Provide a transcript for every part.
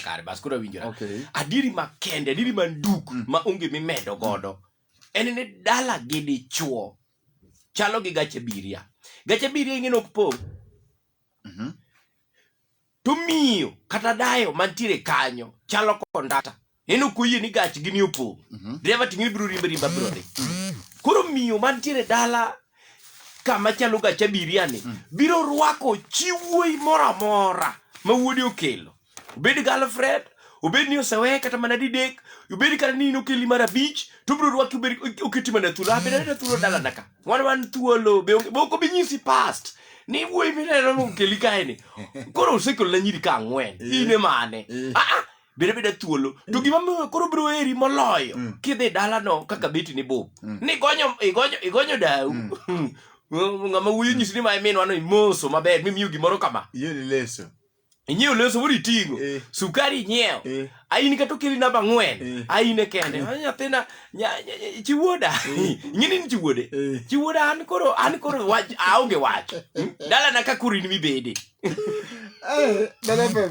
kare bas koro winjora Okay. adiri makende adiri manduk Mm. ma onge mimedo godo en ni dala gi dichuo chalo gi gache biria gache biria ing'e nok po Mhm. to miyo kata dayo mantiere kanyo chalo kondata en ok oyie ni gach gini opong mhm. dreva ting'e ibiro rimba rimba biro dhi mhm. koro miyo mantiere dala kama chalo gach abiria ni mhm. biro rwako chi wuoyi moro amora ma wuodi okelo obed galfred obed ni oseweye kata mana didek obed kata ni in okeli mar abich to biro rwaki oketi mana thuolo abenadena thuolo dalana ka wan wan thuolo be ok obi nyisi past ni wuoyi mineno nokeli kaeni koro osekelona nyiri ka ang'wen ine mane eh. ah, ah. biro bida thuolo to gima miyo koro biro heri moloyo Mm. kidhi dalano kaka beti ni bup Mm. ni igonyo igonyo igonyo dau Mm. ng'ama wuyo nyisi ni ma iminwano imoso maber mimiyo gimoro kama Iye ni leso. inyiewo leso moro iting'o Eh. sukari inyiewo Eh. ain kata okeli namba ang'wen Eh. aine kende Ah, nyathina nya- nya- nya- chiwuoda ing'eni ni chiwuode Eh. chiwuoda an koro an koro wach aonge wach dalana ka koro in mibede Eh, Dala FM.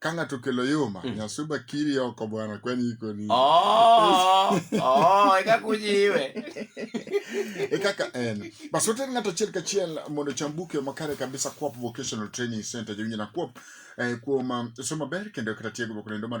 ka ng'ato okelo yuma mm. nyasuba kiri oko bwana kwani iko ni oh, oh, eka kujiwe e kaka en basi water ng'ato achiel kachiel mondo chambuke makare kabisa kuop vocational training center jowinjo na kuop eh, kuom eh, somo ber kendo kata tiegruok lendo mar